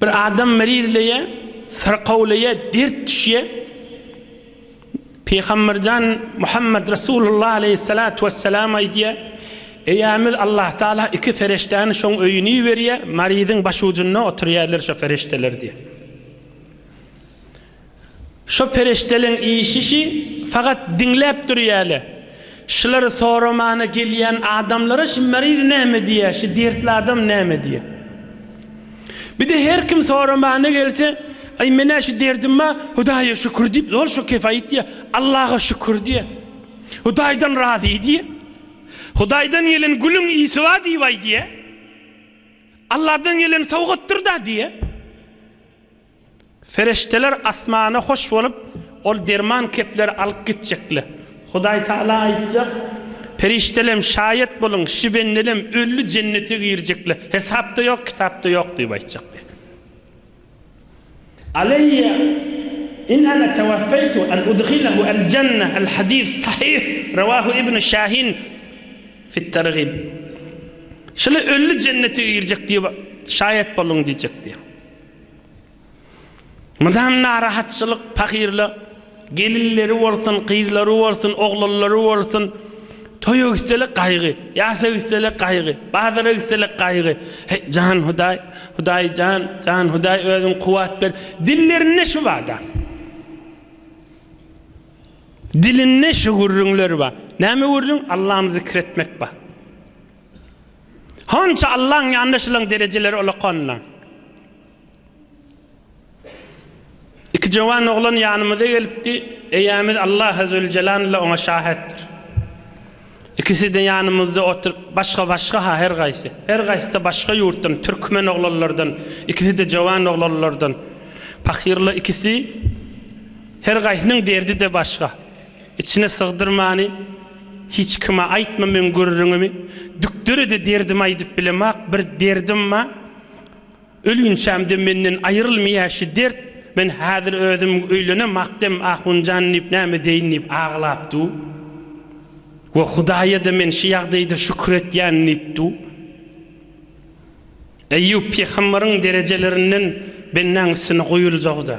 Bir adam merizleýär, syrkawlaýar, dert düşýär. Pygamberjan Muhammed Resulullah aleýhissalatu wessalam aýdýar, Eýämiz Allah Taala iki ferişdäni şoň öýüne iberýär, maryzyň başujunda oturýarlar şo ferişdeler diýýär. Şo pereşdeleň işişi fagat diňläp durýale. Şulary soramana gelýän adamlara şu meriz näme diýýä, şu dertli adam näme diýýä. Bide her kim soramana gelse, Aý menä şu derdim bar, Hudaýa şükür diýip, zor şo kefaýt diýýä. Allaha şükür diýýä. Hudaýdan razy diýýä. Hudaýdan gelen gülüň ysy bar diýip aýdýä. Allahdan gelen sowgatdyr-da diýýä. Perişdeler asmana hoş bolup, ol derman kepleri alyp gitjekler. Hudaý Tagala aýtjak, Perişdelem, şaýat boluň, şibendelem ölli jennete girjekler, hesapda ýok, kitapda ýok diýip aýtjak diýip. Aleýýa in ana tawaffaýtu an udhilahu al janna, al hadis sahih, rawahu ibnu şahin fit targhib. Şular ölli jennete girjek diýip şaýat boluň diýjek diýip. Mydam narahatçylyk pahyryla gelinleri bolsun, gyzlary bolsun, oglanlary bolsun, toýa gitseler gaýgy, ýasa gitseler gaýgy, bazara gitseler gaýgy. Heý, jan Hudaý, Hudaý jan, jan Hudaý özüň kuwwat ber. Dillerinde şübada. Dilinde şu gürrüňler bar. Näme gürrüň? Allany zikir etmek bar. Hança Allaň ýanynda şulaň derejeleri ulakanynda. Iki jowan oglan ýanymyza gelipdi, eýämiz Allah Azeweljelanla oňa şahetdir. Ikisi-de ýanymyzda oturyp, başga-başga-ha her gaýsy. Her gaýsy-da başga ýurtdan, türkmen oglanlardan, ikisi-de jowan oglanlardan. Pahyrlar ikisi, her gaýsynyň derdi-de başga. Içine sygdyrmany hiç kime aýtma meň gürrüňimi Dükderede derdimi aýdyp bilemok bir derdim ba Ölünçämde menden aýrylmyýa şu dert Men häzir özüm öýlenem akdem Ahunjan diýip näme deýin diýip aglap du We Hudaýada men şu ýagdaýda şükür etýän diýip du Eýýup pygamberiň derejelerinden bendäň üstüne goýuljagyda.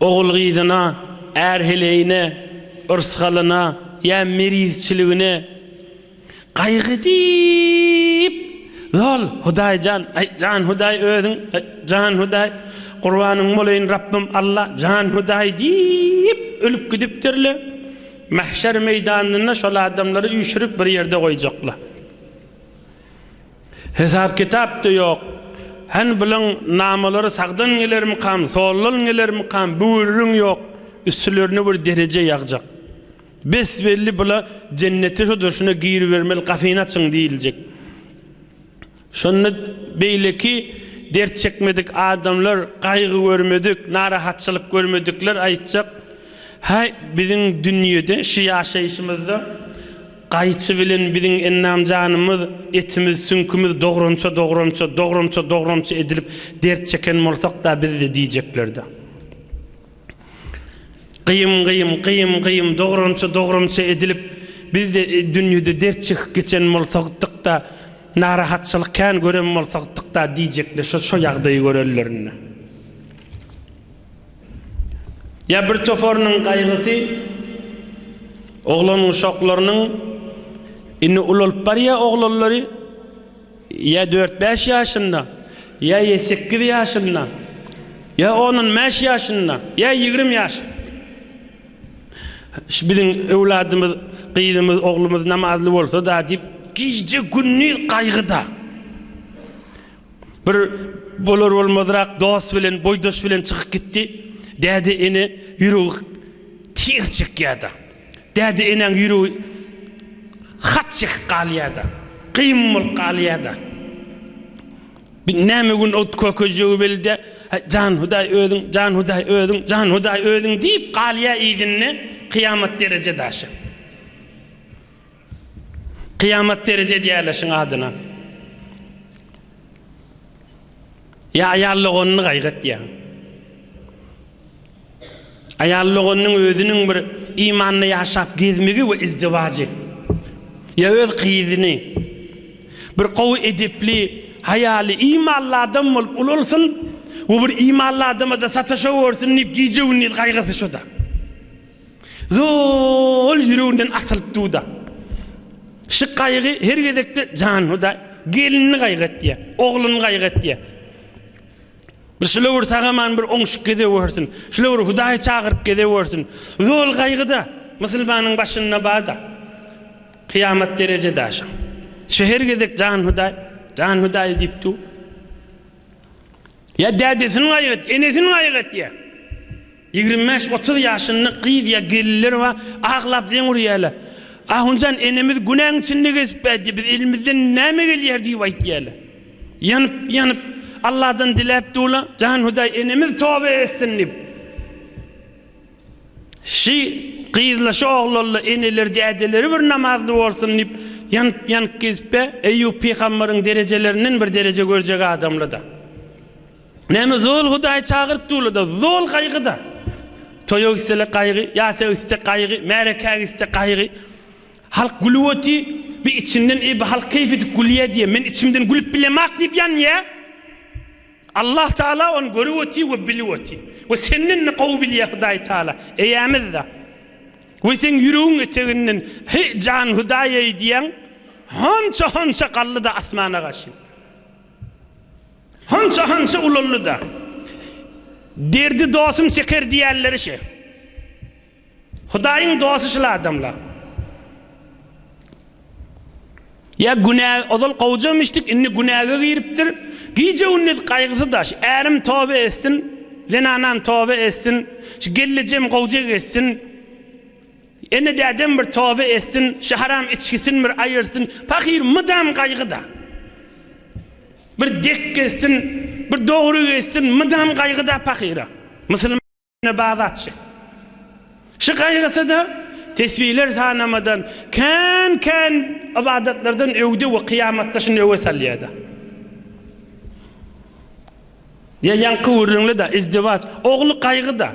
Ogul-gyzyna, är-heleýine, yrsgalyna ýa mirizçiligine gaýgy edip, Zol, Hudaý jan, aý, jan Hudaý özüň, aý, jan Hudaý, gurbanyň bolaýyn Rabbym, Alla, jan Hudaý diýip, ölüp gidipdirler. Mähşer meýdanynda şol adamlary üýşürip bir ýerde goýjaklar. Hesap-kitap-da ýok. Hany bulaň namalary sagdan gelermikam, soldan gelermikam, bürüň ýok, üstlerine bir dereje ýagjak. Besbelli bula jennete şudur, şuna giribermeli, gapyny açyň diýiljek. Şonda beýleki dert çekmedik adamlar, gaýgy görmedik, narahatçylyk görmedikler aýtjak, Häý, biziň dünýede, şu ýaşaýşymyzda, Gaýçy bilen biziň endam-janymyz, etimiz, süňkümiz dogramça, dogramça, dogramça, dogramça edilip dert çeken bolsak-da biz-de diýjekler-dä. Gyýym, gyýym, gyýym, gyýym dogramça, dogramça edilip biz-de dünýede dert çekip geçen bolsakdyk-da, narahatçylyk kän gören bolsakdyk-da diýjekler şo-şo ýagdaýy görenlerinde. Ýa bir toparynyň gaýgysy oglan-uşaklarynyň, indi ulalyp barýar oglanlary, ýa dört-bäş ýaşynda, ýa ýe sekiz ýaşynda, ýa onun bäş ýaşynda, ýa ýigrimi ýaş. Şu biziň öwladymyz, gyzymyz, oglumyz namazly bolsa-da diýip, gije-gündiz gaýgyda. Bir bolar-bolmazrak dost bilen, boýdaş bilen çykyp gitdi. Däde-ene ýüregi tir çekýär-de. Däde-enäň ýüregi hat çekip galýar-da. Kyn bolup galýar-da. Bir näme gün ot kökejegi belide, Jan Hudaý özüň, jan Hudaý özüň, jan Hudaý özüň diýip galýar yzynda kyýamat dereje daşy. Kyýamat dereje edýärler şuň adyna. Ýa aýal doganyny gaýgatýar. Aýal doganynyň özüniň bir imanda ýaşap gezmegi we izdiwajy. Ýa öz gyzyny bir gowy edepli, haýaly, imanly adam bolup ulalsyn we bir imanly adama-da sataşa görsün diýip gije-gündiz gaýgysy şo-da. Zol ýüreginden atylyp duda. Şu gaýgy her gezekde jan huda gelinini gaýgy etýä, ogluny gaýgy etýä. Bir şule bir sagaman bir oňşuk gezeg wersin. Şule bir hudaýy çagyryp gezeg wersin. Zol gaýgyda musulmanyň başynda bada. Kyýamat dereje daşy. Şu her gezek jan hudaý, jan hudaý diýip du. Ýa dädesini gaýgy et, enesini gaýgy etýä. Ýigrimi bäş, otuz ýaşynda gyz ýa gelinler bar, aglap zeň urýarlar. Ahunjan enemiz günäň içinde gezip bärdi, biz elimizden näme gelýär diýip aýtýarlar. Ýanyp, ýanyp, Alladan diläp dur-la, jan Hudaý enemiz toba etsin diýip. Şi gyzla, şi oglanla eneleri, dädeleri bir namazly bolsun diýip, ýanyp, ýanyp gezip bär. Eýýup pygambaryň derejelerinden bir dereje görjek adamly-da. Näme zol Hudaý çagyryp durlada zol gaýgyda. Toýa gitseler gaýgy, ýasa gitse gaýgy, märekä gitse gaýgy. Halk gülüp oty, bi içinden eý bi halk keýp edip gülýä diýä, men içimden gülüp bilemak diýip ýanýä. Allah Taala ony görüp oty we bilip oty. We senden-de gowy bilýä Hudaý Taala. Eýämiz-de. We seň ýüregiň eteginden Heý jan Hudaý-eý diýäň, honça-honça galdy-da asmana gaşyn. Hança-hança ulaldy-da, Derdi dostum çeker diýerleri şe. Hudaýyň dosty şul adamlar. Ýa günä, ozal gowja mişdik, indi günäge giripdir. Gije-gündiz gaýgysy daş. Ärim toba etsin, zenanam toba etsin, şu gelnejem gowja geçsin. Ene dädem bir toba etsin, şu haram içgisini bir aýyrsyn, pahyr mydam gaýgyda. Bir dek gezsin, bir dogry gezsin, mydam gaýgyda pahyra. Musulmana bag atjy. Şu gaýgysyda tesbiler sanamadan, kän-kän ybadatlardan öwde we kyýamatda şuny öwe salýada. Ýa ýaňky gürrüňli-dä, izdiwaç, ogly gaýgy-da.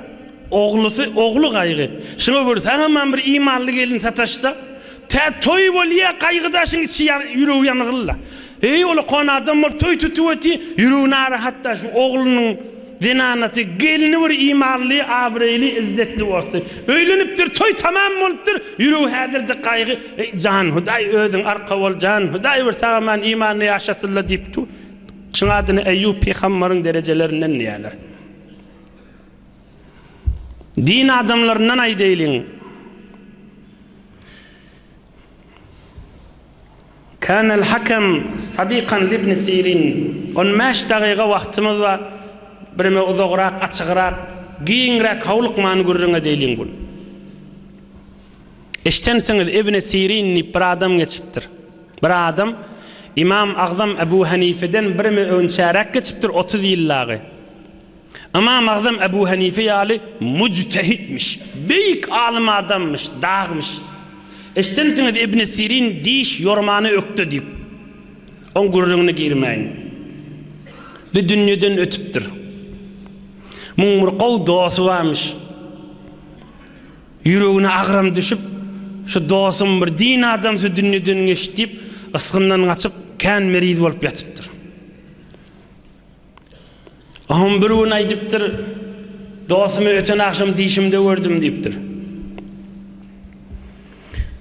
Oglusy, ogly gaýgy. Şuňa bir sagamam bir imanly gelin sataşsa, tä toý bolýa, gaýgy daşyň içi ýan, ýüregi ýangyl-la. Eý, ol okan adam bolup toý tutup ýeti, ýüregi narahat-da, şu oglunyň zenanasy, gelni bir imanly, abraýly, izzetli bolsa. Öýlenipdir, toý tamam bolupdyr, ýüregi häzir-de gaýgy. Eý, jan, Hudaý özüň arka bol, jan, Hudaý bir sagaman imanly ýaşasyn-la diýip dur. Çyn adyny Eýýup pygambaryň derejelerinden diýýärler. Din adamlaryndan aýdaýlyň. Kanel Hakem Sadikan Libni Sirin On bäş dagyga wagtymyz bar, bireme uzagrak, açygrak, giňräk howlukman gürrüň edeýliň bul. Eşdensiňiz, Ibni Sirin diýip bir adam geçipdir. Bir adam, Ymam Agzam Ebu Hanifeden birimi önçäräk geçipdir, otuz ýyl dagy. Ymam Agzam Ebu Hanife ýaly müjtehitmiş, beýik alym adamyş, dagmyş. Eşidensiňiz Ibni Sirin diş ýormany ökde diýip. Oň gürrüňine girmäýin. Bu dünýeden ötüpdir. Muň bir gowy dosty barmyş. Ýüregine agram düşüp, Şu dosum bir din adamsy dünýeden geçdi diýip, ysgyndan gaçyp, kän meriz bolup ýatypdyr. Oňam bir gün aýdypdyr, Dostumy öten agşam dişimde gördüm diýipdir.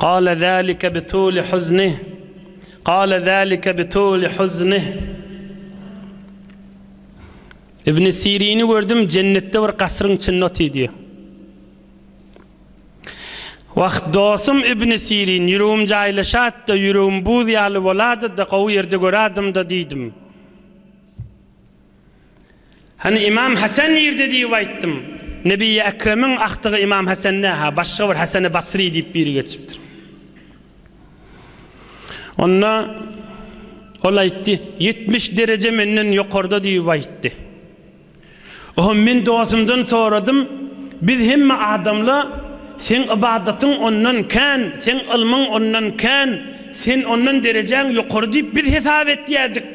Gale zalike bi tuli huznih, gale zalike bi tuli huznih. Ibni Sirini gördüm jennetde bir gasryň içinde otyr diýýär. Wah dostum Ibni Sirin ýüregim jaýlaşatda, ýüregim buz ýaly boladyda gowy ýerde görädim-da diýdim. Hany Ymam Hasan nirde diýip aýtdym. Nebiýi Ekremiň agtygy Ymam Hasan nä-hä, başga bir Hasany Basry diýip biri geçipdir. Onda ol aýtdy, Ýetmiş dereje menden ýokarda diýip aýtdy. Oho, men dostumdan soradym, Biz hemme adamla, seň ybadatyň ondan kän, seň ylmyň ondan kän, sen ondan derejäň ýokary diýip biz hesap etýädik.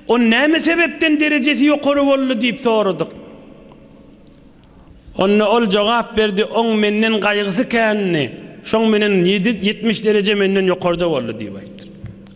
Ol näme sebäpden derejesi ýokary boldy diýip soradyk. Onda ol jogap berdi, oň menden gaýgysy kändi, şoň menen ýetmiş dereje menden ýokarda boldy diýip aýtdyr.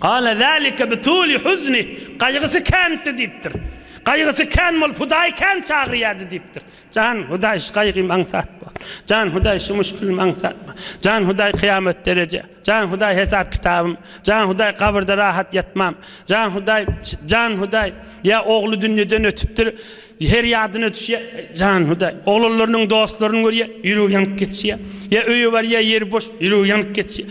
Gala zalika bi tuli huznih, gaýgysy kändi diýipdir. Gaýgysy kän bolup Hudaýy kän çagyrýardy diýipdir. Jan Hudaý şu gaýgym aňsat bol. Jan Hudaý şu muşgulym aňsat bol. Jan Hudaý kyýamat dereje. Jan Hudaý hesap kitabym. Jan Hudaý gabyrda rahat ýatmam. Jan Hudaý Jan Hudaý ýa ogly dünýeden ötüpdir her ýadyna düşýä Jan Hudaý oglanlarynyň dostlaryny görýä ýüregi ýanyp geçýä ýa öýe barýa ýeri boş ýüregi ýanyp geçýä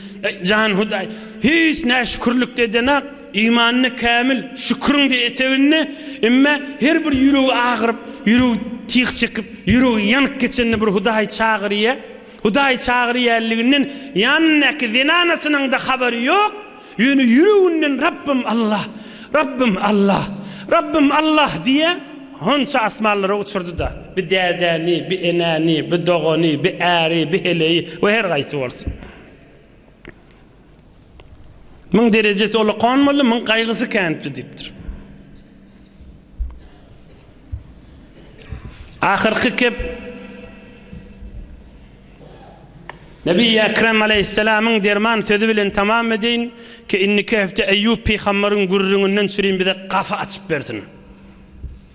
Jan Hudaý hiç näşükürlik edenak Imanyny kämil, şüküriňde eteginde, emme her bir ýüregi agyryp, ýüregi tiz çekip, ýüregi ýanyp geçende bir Hudaýy çagyrýa. Hudaýy çagyrýanliginden ýanyndaky zenanasynyňda habary ýok, ýöne ýüreginden Rabbym Allah, Rabbym Allah, Rabbym Allah diýýä. Honça asmanlara uçurdy-da, bi dädäni, bi enäni, bi dogany, bi äri, bi heleýi we her gaýsy bolsun. Myň derejesi ulakan boldy, myň gaýgysy känipdi diýipdir. Ahyrky kep Nebi Ekrem aleýhissalamyň derman sözi bilen tamam edeýin ki, indiki hepde Eýýup pygambaryň gürrüňinden sürüň bize gafy açyp bersin.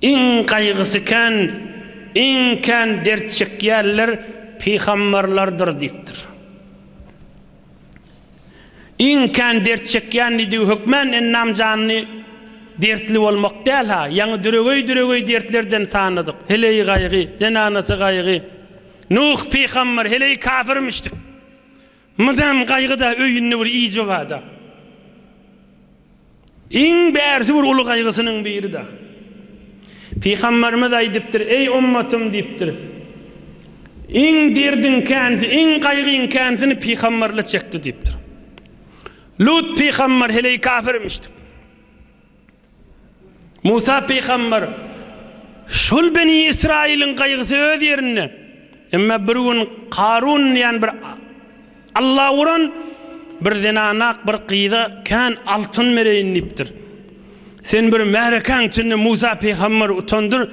Iň gaýgysy kän, iň kän dert çekýänler pygamberlerdir diýipdir. Iň kän dert çekýän diýdigi hökmän ennam janly dertli bolmak däl-ha, ýaňy düregeý-düregeý dertlerden sanadyk. Heleý gaýgy, zenanasy gaýgy. Nuh pygamber heleý kafirmişdik. Mydam gaýgyda öýünde bir iýje bada. Iň bärsi bir uly gaýgysynyň birida. Pygamberimiz aýdypdyr, Eý ummatym diýipdir. Iň derdiň känsi, iň gaýgyň känsini pygamberle çekdi diýipdir. Lut pygamber heleý kafirmişdi. Musa pygamber, Şol beni Ysraýylyň gaýgysy öz ýerinde. Emma bir gün Karun diýen bir Alla uran bir zenanak bir gyza kän altyn bereýin diýipdir. Sen bir märekäň içinde Musa pygamber utandyr,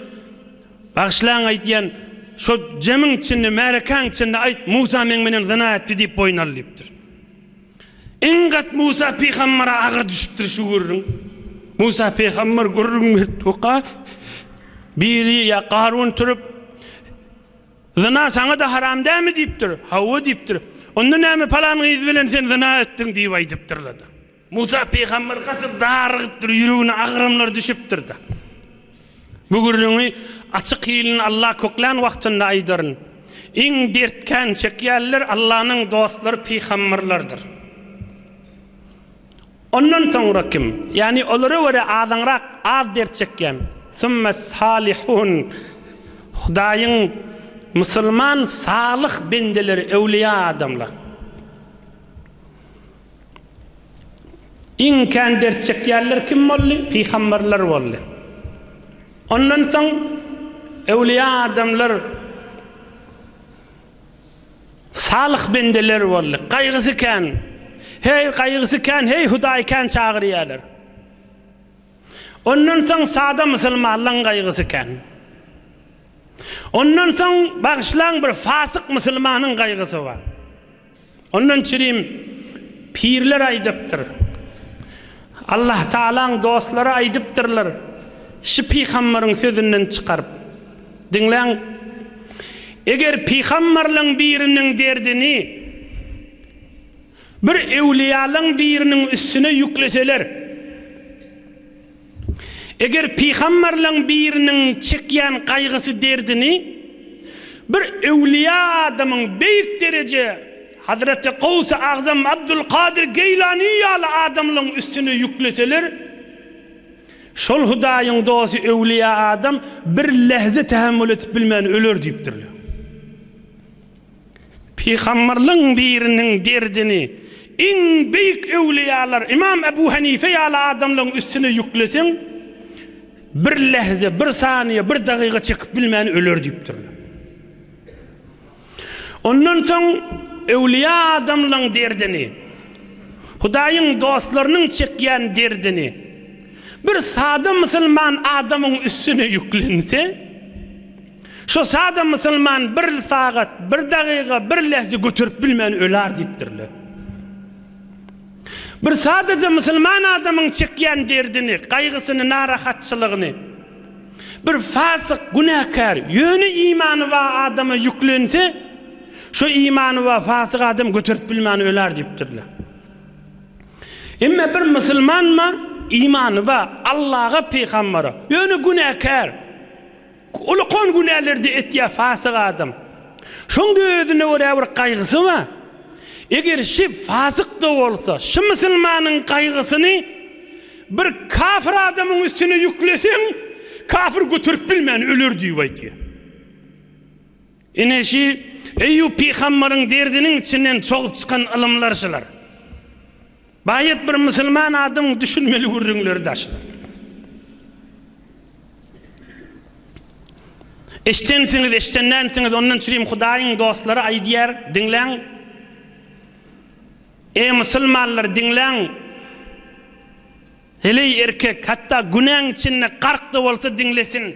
Bagyşlaň aýt diýen şo jemiň içinde, märekäň içinde aýt, Musa meň menen zyna etdi diýip boýun al diýipdir. Iň gat Musa pygambere agyr düşüpdir şu gürrüň. Musa pygamber gürrüň beripdika, biri ýa Garun turup, Zyna saňa-da haram dämi? diýipdir. Hawa diýipdir. Onda näme palan gyz bilen sen zyna etdiň? diýip aýdypdyrlar-da. Musa pygamber gaty darygypdyr, ýüregine agramlar düşüpdir-de. Bu gürrüňi açyk hilini Alla köklän wagtynda aýdaryn. Iň dert kän çekýänler Allanyň dostlary pygamberlerdir. Ondan soňra kim? Ýagny olara görä azaňrak, az dert çekýän. Summes-salihun. Hudaýyň musulman salyh bendeleri, öwlüýa adamlar. Iň kän dert çekýänler kim boldy? Pygamberler boldy. Ondan soň öwlüýä adamlar, salyh bendeler boldy. Gaýgysy kän, heý, gaýgysy kän, heý, Hudaýy kän çagyrýarlar. Ondan soň sada musulmanlaryň gaýgysy kän. Ondan soň, bagyşlaň, bir fasyk musulmanyň gaýgysy bar. Ondan çirim pirler aýdypdyr. Allahtagalaň dostlary aýdypdyrlar, Şi pygambaryň sözünden çykaryp, diňläň, Eger pygambarlaň biriniň derdini bir öwliýalaň biriniň üstüne ýükleseler, Eger pygamberleň biriniň çekýän gaýgysy derdini bir öwlüýä adamyň beýik dereje Hazreti Gowsy Agzam Abdul Kadyr Geýlani ýaly adamlaň üstüne ýükleseler şol Hudaýyň dosty öwlüýä adam bir lehze tähemmül edip bilmän öler diýipdirler. Pygamberleriň biriniň derdini iň beýik öwliýalar Ymam Ebu Hanife ýaly adamlaryň üstüne ýükleseň, bir lähze, bir saniýe, bir dagyga çekip bilmän öler diýipdirler. Ondan soň öwliýa adamlaryň derdini, Hudaýyň dostlarynyň çekýän derdini bir sada musulman adamyň üstüne ýüklense, Şo sada musulman bir sagat, bir dagyga, bir lehze göterip bilmän öler diýipdirler. Bir sadaja musulman adamyň çekýän derdini, gaýgysyny, narahatçylygyny bir fasyk, günäkär, ýöne imany ba adama ýüklense, şo imany ba fasyk adam göterip bilmän öler diýipdirler. Emma bir musulman ma imany ba Allaga, pygambara, ýöne günäkär, Ulkan günäleri-de etýär fasyk adam. Şoňda özüne görä bir gaýgysy bar. Eger şi fasyk-da bolsa, şi musulmanyň gaýgysyny bir kafir adamyň üstüne ýükleseň, kafir göterip bilmän öler diýip aýdýar. Ine şü Eýýup pygambaryň derziniň içinden çogup çykan ylymlar şular. Baýat bir musulman adamyň düşünmeli gürrüňleri da şular. Eşdensiňiz, eşdendensiňiz, ondan çürim Hudaýyň dostlary aýdýar, diňläň. Eý musulmanlar, diňläň. Heleý erkek, hatda günäň içinde gark-da bolsa diňlesin.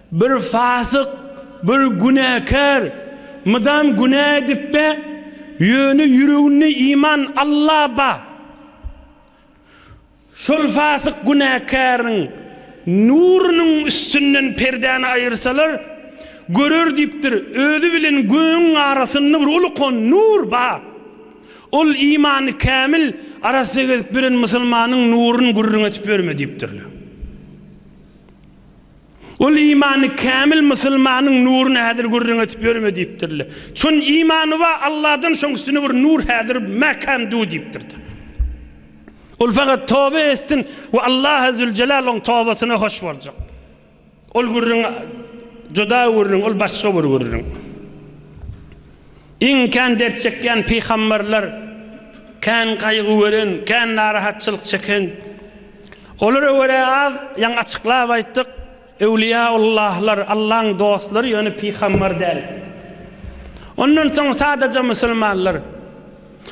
Bir fasyk, bir günäkär, mydam günä edipbe, ýöne ýüreginde iman, Alla ba. Şol fasyk günäkäriň nurunyň üstünden perdäni aýyrsalar, görer diýipdir, özi bilen gögüň arasynda bir ulkan nur ba. Ol imany kämil, arassa gezip ýören musulmanyň nurun gürrüň etip ýörme diýipdirler. Ol imany kämil musulmanyň nuruny häzir gürrüň edip ýörme diýipdirle. Çün imany ba Alladan şoň üstüne bir nur häzir mäkäm du diýipdirde. Ol fakat tobe estin we Allah Azzülcelal oň tobasyna hoş boljak. Ol gürrüň juda gürrüň, ol başga bir gürrüň. Iň kän dert çekýän pygamberler kän gaýgy gören, kän narahatçylyk çeken. Olara görä az, ýaňy açyklap aýtdyk, öwliýaullahlar, Allaň dostlary ýöne pygamber däl. Ondan soň sadaja musulmanlar.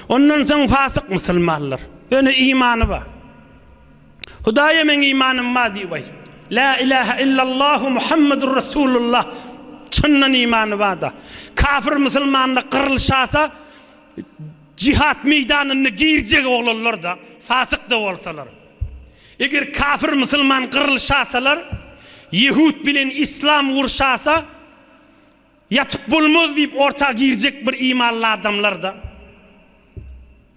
Ondan soň fasyk musulmanlar. Ýöne imany bar. Hudaýa meň imanym bar diýip aýt. Lä ilähe illallahu Muhammedur Resulullah çyndan imany barda. Kafir musulmanda gyrylşasa jihat meýdanyna girjek oglanlarda fasykda bolsalar. Eger kafir musulman gyrylşasalar ýehut bilen islam urşasa ýatyp bolmaz diýip orta girjek bir imanly adamlarda.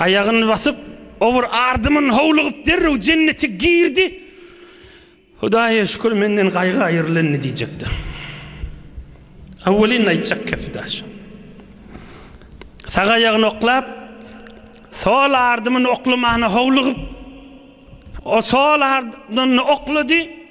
Aýagyny basyp, o bir ardymyn howlugyp derrew jennete girdi. Hudaýa şükür menden gaýgy aýrylandy diýjekdi. Awwelin aýtjak gepi daşy. Sag aýagyny oklap, sol ardymyny oklamana howlugyp, o sol ardymyny oklady.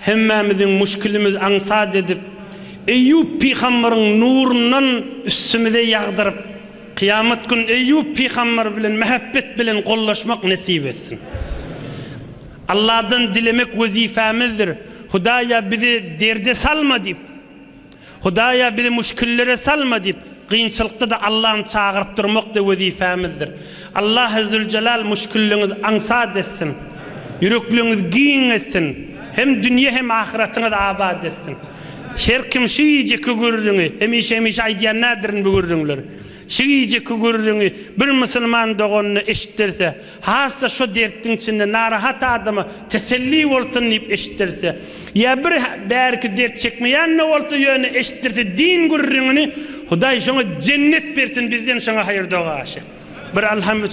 Hemmämiziň müşkilimiz aňsat edip, Eýýup pygamberyň nurundan üstümize ýagdyryp, kyýamat gün Eýýup pygamber bilen mähebbet bilen gollaşmak nesip etsin. Alladan dilemek wezipemizdir. Hudaýa bizi derde salma diýip. Hudaýa bizi müşkillere salma diýip, kynçylykda-da Allany çagyryp durmak-da wezipemizdir. Allahy Züljelal müşkilliňiz aňsat etsin, ýürekliňiz giň etsin, hem dünýe hem ahyratyňyz abat etsin. Her kim şu gijeki gürrüňi, hemişe-hemişe aýdýan nädirin bu gürrüňleri, şu gijeki gürrüňi bir musulman doganyna eşitdirse, Has-da şo dertdiň içinde narahat adama teselli bolsun diýip eşitdirse. Ýa bir bärki dert çekmeýän-de bolsa, ýöne eşitdirse din gürrüňini, Hudaý şoňa jennet bersin, bizden şoňa haýyr dogaşy. Bir alham üç.